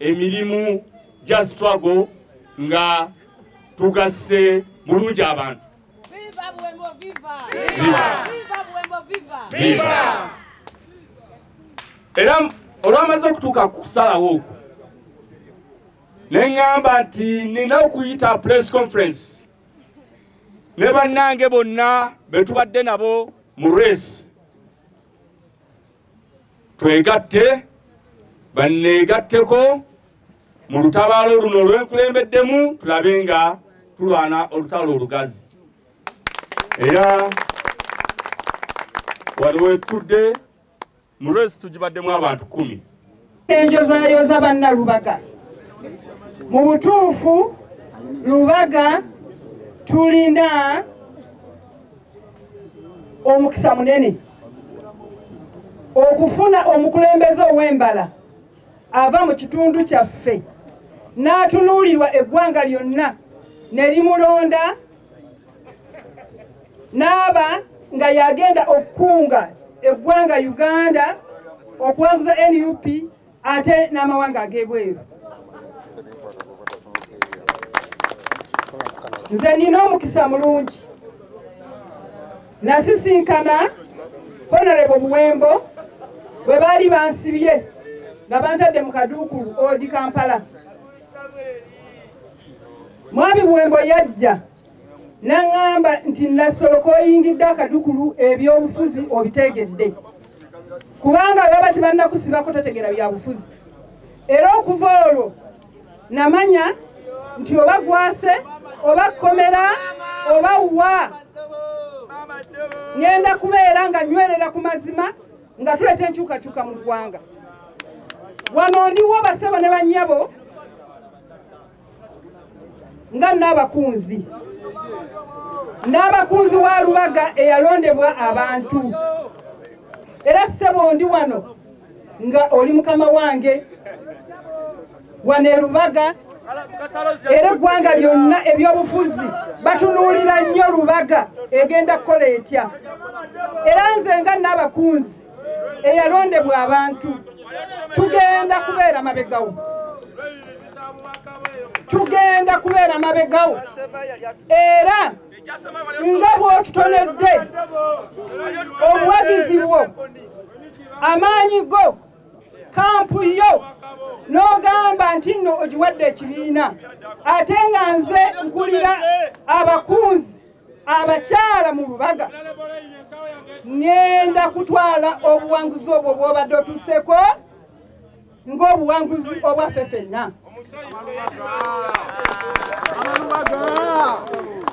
emirimu gya struggle nga tugasse bulungi abantu era olwamaze okutuuka ku kusalawo okwo ne ŋŋamba nti nina okuyita press conference ne bannange bonna be tubadde nabo mu race twegatte banneegatteko mu lutabaalo luno lwenkulembeddemu tulabe nga tulwana olutalo olugazi era waliwo etudde mu lwezi tugibaddemu abantu kumi enjozayooza banna lubaga mu butuufu lubaga tulina omukisa munene okufuna omukulembeze ow'embala ava mu kitundu kyaffe n'atunuulirwa eggwanga lyonna ne limulonda n'aba nga yagenda okukunga eggwanga uganda okuwanguza nup ate n'amawanga ag'ebweru nze nina omukisa mulungi nasisinkana honorable buwembo bwe baali bansibye nga bantadde mu kaduukulu odi kampala mwami buwembo yajja naŋŋamba nti nassolo koyingidde akadukulu ebyobufuzi obitegedde kubanga baba tibannakusibako totegera byabufuzi era okuva olwo namanya nti oba gwase oba kkomera oba wa ŋenda kubeera nga nywerera ku mazima nga tuleeta enkyukakyuka mu ggwanga wano ndiwo basebo ne banyabo nga n'abakunzi n'abakunzi wa lubaga eyalondebwa abantu era ssebo ndi wano nga oli mukama wange wano erubaga era eggwanga lyonna ebyobufuzi batunuulira nnyo lubaga egenda kukola etya era nze nga naabakunzi eyalondebwa abantu tugenda kubeera mabegawo tugenda kubeera mabegawo era nga bwotutonedde obuwagizi bwo amaanyi go kampu yo n'ogamba nti nno ogiwadde ekibiina ate nga nze nkulira abakunzi abakyala mu lubaga ŋŋenda kutwala obuwanguzi obwo bw'obadde otuuseko ng'obuwanguzi obwaffe fenna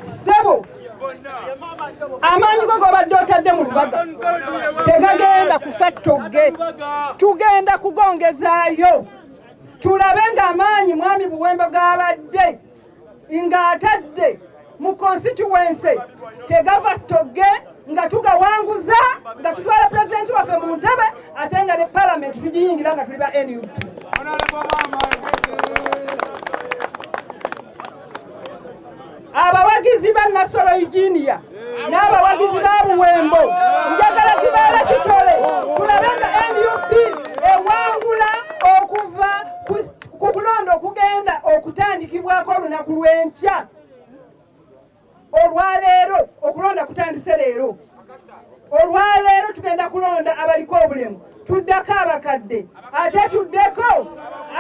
ssebo amaanyi go gobadde otadde mu lubaga tegagenda kufa ttogge tugenda kugongezaayo tulabe ng'amaanyi mwami buwembo g'abadde ng'atadde mu konsituwense tegava togge nga tugawanguza nga tutwala pulezidenti waffe mu ntebe ate nga ne palamenti tugiyingira nga tuli ba nup abawagizi ba nasolo eugenia n'abawagizi ba buwembo njagala tubeere kitole tulabe nga nup ewangula okuva ku kulonda okugenda okutandikibwako olunaku lw'enkya olwaleero okulonda kutandise leero olwaleero tugenda kulonda abaliko obulemu tuddeko abakadde ate tuddeko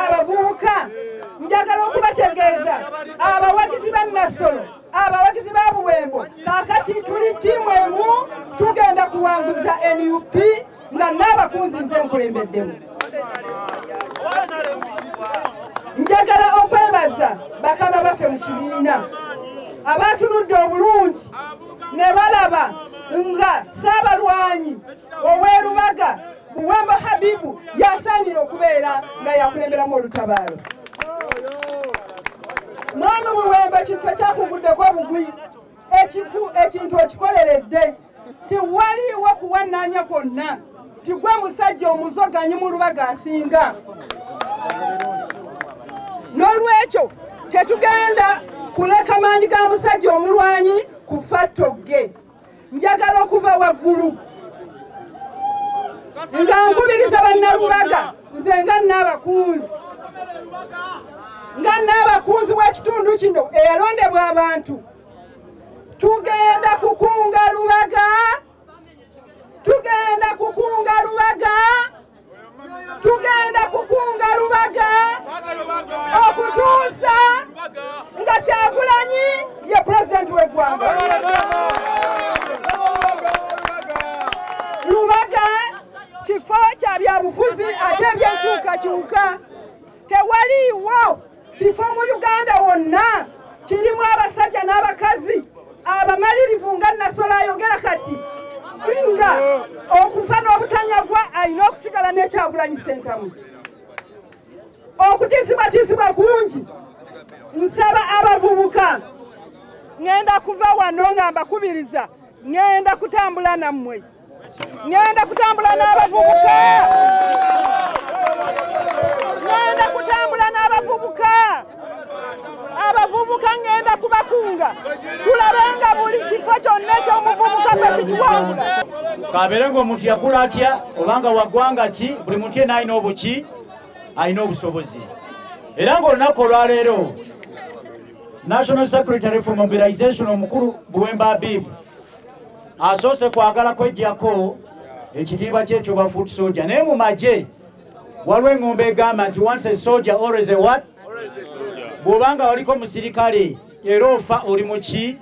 abavubuka njagala okubategeeza abawagizi ba nassolo abawagizi ba buwembo kakati tuli ttiimu emu tugenda kuwanguza nup nga n'abakunzi nze nkulembeddemu njagala okwebaza bakama baffe mu kibiina abaatunudde obulungi ne balaba nga saabalwanyi ow'erubaga buwembo habibu yasaanira okubeera nga yakulemberamu olutabaalo mwami buwembo ekintu ekyakuguddeko obugwi ekintu okikoleredde tiwaliwo kuwananya kwonna tigwe musajja omuzoganyi mu lubaga asinga n'olwekyo tetugenda kuleka maanyi ga musajja omulwanyi kufa togge njagala okuva waggulu nga nkubiriza bannalubaga nze nga naabakunzi nga naabakunzi w'ekitundu kino eyalondebwa abantu tugenda kukunga lubaga tugenda kukunga lubaga tugenda kukunga lubaga okutuusa nga kyagulanyi ye pulezidenti w'eggwanga lubaga kifo kya byabufuzi ate ebyenkyukakyuka tewaliiwo kifo mu uganda wonna kirimu abasajja n'abakazi abamalirivu nga nasola ayogera kati nga okufa n'obutanyagwa alina okusigala nekyagulanyi sentamu okutizibwatizibwa kungi nsaba abavubuka ŋenda kuva wano nga mbakubiriza ŋenda kutambula nammwe ngenda kutambula n'abavubuka ngenda kutambula n'abavubuka abavubuka ngenda kubakunga tulabe nga buli kifo kyonna ekyomuvubuka fe tukiwangula kabeere ngaomuntu yakula atya obanga waggwanga ki buli muntu yena alina obuki alina obusobozi era ngaolunaku olwaleero national secretary for mobilization omukulu buwemba abibu asoose kwagala kwejjako ekitiibwa kyekyo ba foot soja naye mu magye waliwo eŋŋombo egamba nti once a soja always a what bw'obanga waliko musirikale era ofa oli muki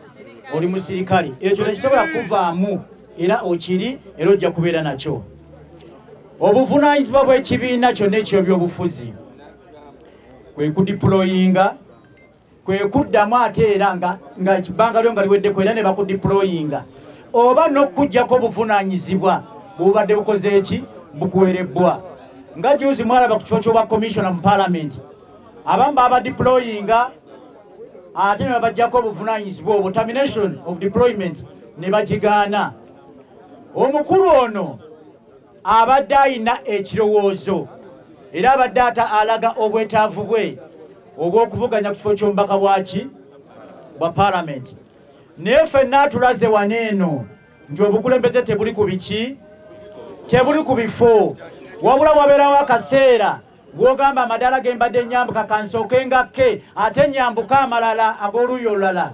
oli musirikale ekyo tekisobola kuvaamu era okiri era ojja kubeera nakyo obuvunaanyizibwa bw'ekibiina kyonna ekyobyobufuzi kwe kudipuloyinga kwe kuddamu ate era nga ekibbanga lyo nga liweddeko era ne bakudiployinga oba n'okukuggyako obuvunaanyizibwa bubadde bukoze eki bukuwerebbwa nga juzi mwalaba ku kifo ky'obwa commissiona mu palamenti abamu babadiployinga ate ne babaggyako obuvunaanyizibwa obwo termination of deployment ne bagigaana omukulu ono abadde alina ekirowoozo era abadde ata alaga obwetaavu bwe ogw'okuvuganya ku kifo ky'omubaka bwaki bwa palamenti naye fenna atulaze wano eno nti obukulembeze tebuli ku biki tebuli ku bifo wabula wabeerawo akaseera gwogamba amadaala ge mbadde nyambuka kansooke ngakke ate nyambuke amalala ag'oluuyi olulala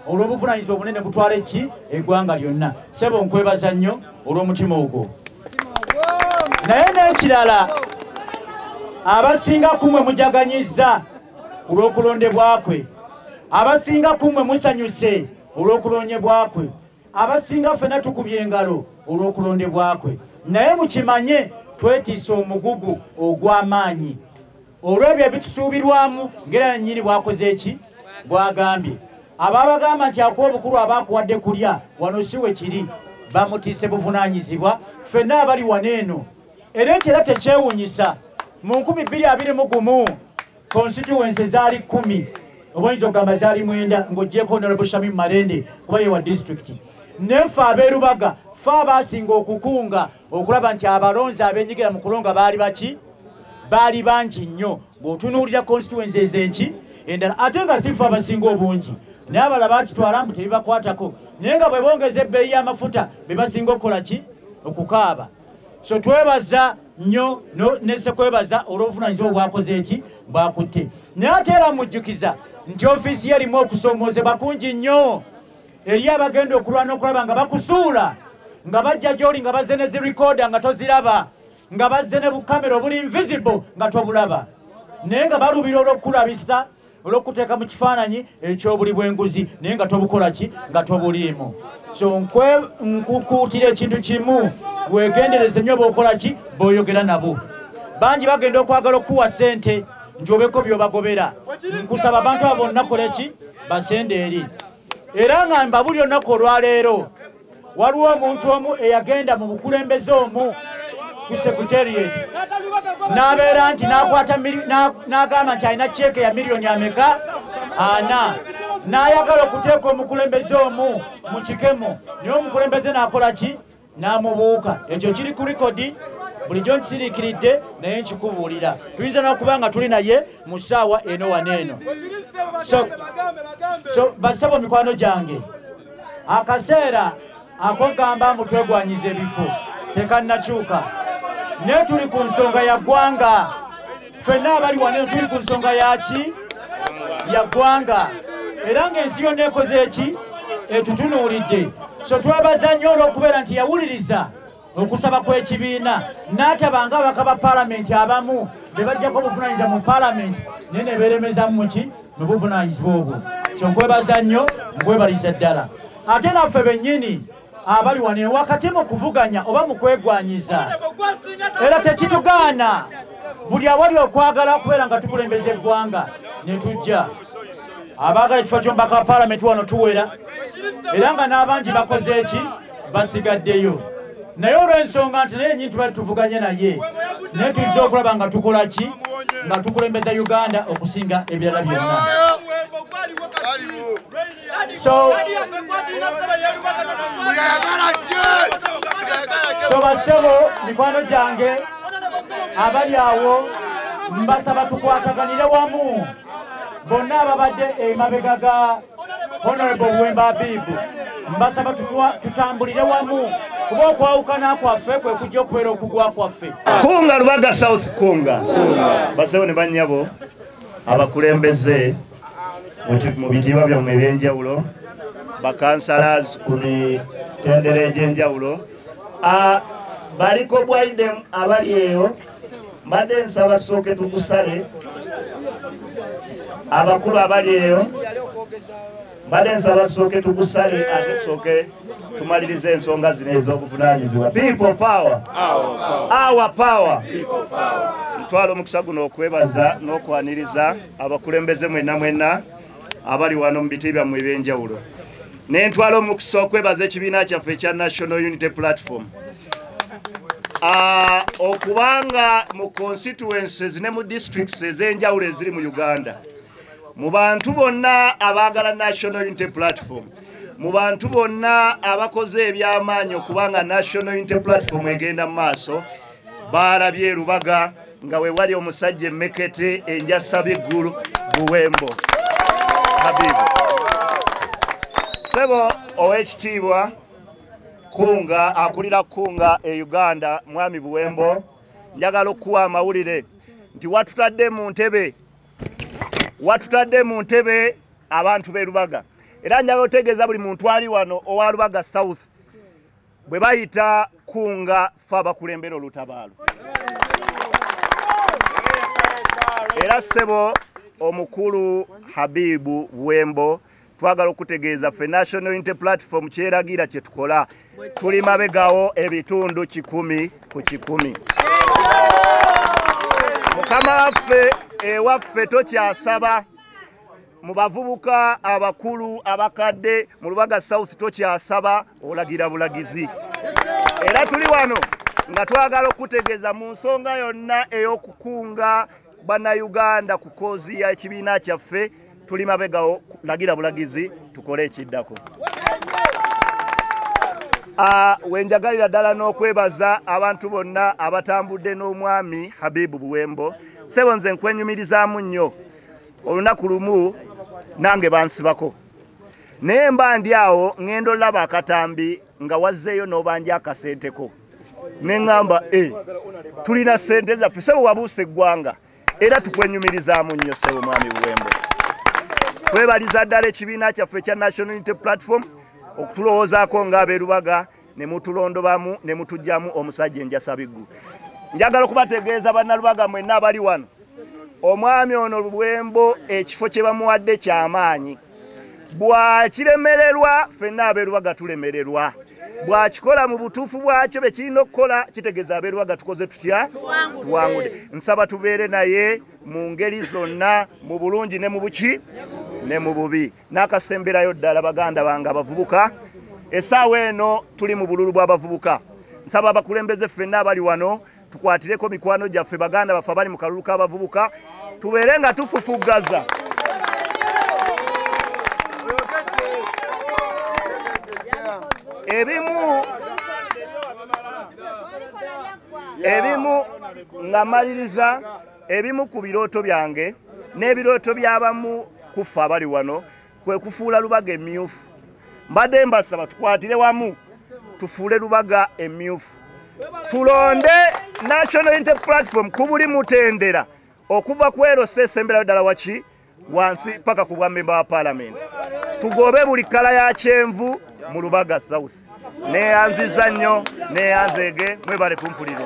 olw'obuvunaanyizibwa obunene kutwala eki eggwanga lyonna sebo nkwebaza nnyo olw'omutima ogwo naye n'ekirala abasinga kumwe mujaganyizza olw'okulondebwa kwe abasinga kumwe musanyuse olw'okulondebwa kwe abasinga ffena tukubye engalo olw'okulondebwa kwe naye mukimanye twetiisa omugugu ogw'amaanyi olw'ebyo ebitusuubirwamu ngera nannyini bwakoze eki bwagambye ababagamba nti akuwa obukulu aba akuwadde kulya wano si we kiri bamutiise buvunaanyizibwa ffenna abali wano eno era ekyo era tekyewunyisa mu 221 konsituwense zaali kumi obaoyinza okugamba zaali mwenda ng'ogyeko nalabo shamim malende kuba yewa disitulikiti nefe abeerubaga fe abaasinga okukunga okulaba nti abalonzi abenyigira mu kulonga baali baki baali bangi nnyo ng'otunuulira constituensi ezenki endala ate nga sifa abasinga obungi naye abala bakitwala mbu tebibakwatako naye nga bwe bongeza ebbeeyi y'amafuta be basinga okukola ki okukaaba so twebaza nnyo nesekwebaza olw'obuvunanyizibwa obwakoze eki bwakutte naye ate era mujjukiza nti ofiisi ye erimu okusoomoozebwa kungi nnyo eriyo abagenda okulwana okulaba nga bakusuula nga bajja gyoli nga bazze ne zirikoda nga toziraba nga bazze ne bukamera obuli invisible nga tobulaba naye nga balubira olwokukulabisa olwokuteeka mu kifaananyi ekyobuli bwenguzi naye nga tobukola ki nga tobuliimu so nkwe nkukuutira ekintu kimu wegendereze nyo bokola ki boyogera nabo bangi bagenda okwagala okukuwa sente nti obeko byobagobera nkusaba abantu abo bonna koleki basende eri era nga mbabuli olunaku olwaleero waliwo omuntu omu eyagenda mu bukulembeze omu ku secretariat n'abeera nti nakwata n'agamba nti alina ceeke ya miliyoni ameka ana n'ayagala okuteeka omukulembeze omu mu kikemo naye omukulembeze n'akola ki n'amubuuka ekyo kiri ku rikodi bulijjo nkisiriikiridde naye nkikubuulira tuyinza n'okuba nga tuli naye mu ssaawa eno wano eno so basebo mikwano gyange akaseera akogamba mbu twegwanyiza ebifo tekannakyuka naye tuli ku nsonga ya ggwanga fenna abali wano tuli ku nsonga yaki ya ggwanga era ng'ensi yonna ekoze eki etutunuulidde so twebaza nnyo olw'okubeera nti yawuliriza okusaba kw'ekibiina n'atabanga abaka ba palamenti abamu be bajjako obuvunanyizibwa mu palamenti naye ne beeremezamu muki mu buvunanyizibwa obwo kyonkwebaza nnyo nkwebalisa ddala ate naffe bennyini abali wano ewakati mu kuvuganya oba mu kwegwanyiza era tekitugaana buli awali okwagala okubeera nga tukulembeza eggwanga ne tujja abaagala ekifo ky'omubaka wa paalamenti wano tuwera era nga n'abangi bakoze eki basigaddeyo naye olw'ensonga nti naye nyini tubali tuvuganye naye naye tuzze okulaba nga tukola ki nga tukulembeza uganda okusinga ebirala byonna So, so basebo mikwano gyange abali awo mbasaba tukwataganire wamu bonna ababadde emabega ga honorable wemba abibu mbasaba tutambulire wamu kuba okwawukana kwaffe kwe kujja okubeera okugwa kwaffe kunga lubaga south kunga basebo ne banyabo abakulembeze mu bitiibwa byammwe eby'enjawulo bakansalazi ku mitendera egy'enjawulo baliko bwaidem abali eyo mbadde nsaba tusooke tukusale abakulu abali eyo mbadde nsaba tusooke tukusale ate tusooke tumaliriza ensonga zino ez'obuvunaanyizibwa people power our power ntwala omukisa guno okwebaza n'okwaniriza abakulembeze mwena mwena abali wano mu biti byammwe ebyenjawulo nentwala omukisa okwebaza ekibiina kyaffe ekya national unity platform ah, okubanga mu constituences ne mu districts ezenjawulo eziri mu uganda mu bantu bonna abaagala national unity platform mu bantu bonna abakoze ebyamaanyi okubanga national unity platform egenda mu maaso baalabye erubaga nga we wali omusajja emmekete enjasaba eggulu buwembo habibu sebo ow'ekitiibwa kunga akulira kunga e uganda mwami buwembo njagala okukuwa amawulire nti watutadde mu ntebe watutadde mu ntebe abantu b'erubaga era njagala otegeeza buli muntu ali wano owa rubaga south bwe bayita kunga fe abakulembera olutabaalo era ssebo omukulu habibu wembo twagala okutegeeza ffe national inte platform kyeragira kye tukola tuli mabegawo ebitundu kikumi ku kikumi mukama waffe ewaffe tokyasaba mu bavubuka abakulu abakadde mu lubaga south tokyasaba olagira bulagizi era tuli wano nga twagala okutegeeza mu nsonga yonna ey'okukunga bannayuganda ku koozi y'ekibiina kyaffe tuli mabegawo lagira bulagizi tukole ekiddako ah, wenjagalira ddala n'okwebaza abantu bonna abatambudde n'omwami habibu buwembo sebo nze nkwenyumirizaamu nnyo olunaku lumu nange bansibako naye mba ndi awo ŋenda olaba akatambi nga wazzeeyo n'obanja akasenteko ne ŋŋamba e eh, tulina sente zaffe sebo wabuusa eggwanga era tukwenyumirizaamu nnyo sebo mwami buwembo twebaliza ddala ekibiina kyaffe ekya national unity platform okutulowoozaako ng'abeerubaga ne mutulondobamu ne mutujjamu omusajja enjasabiggu njagala okubategeeza bannalubaga mwenna abali wano omwami ono lubwembo ekifo kye bamuwadde kyamaanyi bwakiremererwa fenna abeerubaga tulemererwa bwakikola mu butuufu bwakyo be kirina okukola kitegeeza abeerubaga tukoze tutya tuwangude nsaba tubeere naye mu ngeri zonna mu bulungi ne mu buki ne mu bubi n'akasemberayo ddala baganda bange abavubuka esaawa eno tuli mu bululu bw'abavubuka nsaba abakulembeze ffenna abali wano tukwatireko mikwano gyaffe baganda baffe abali mu kalulu k'abavubuka tubeere nga tufufuggaza ebimu ebimu nga maliriza ebimu ku birooto byange n'ebirooto by'abamu kuffe abali wano kwe kufuula lubaga emyufu mbadde mbasaba tukwatire wamu tufuule lubaga emyufu tulonde national inte platform ku buli mutendera okuva ku erosa esemberayo ddala waki wansi paka ku bwamemba wa palamenti tugobe buli kkala ya kyenvu mu lubaga south neyanziza nnyo neyanzeege mwebale kumpuliriza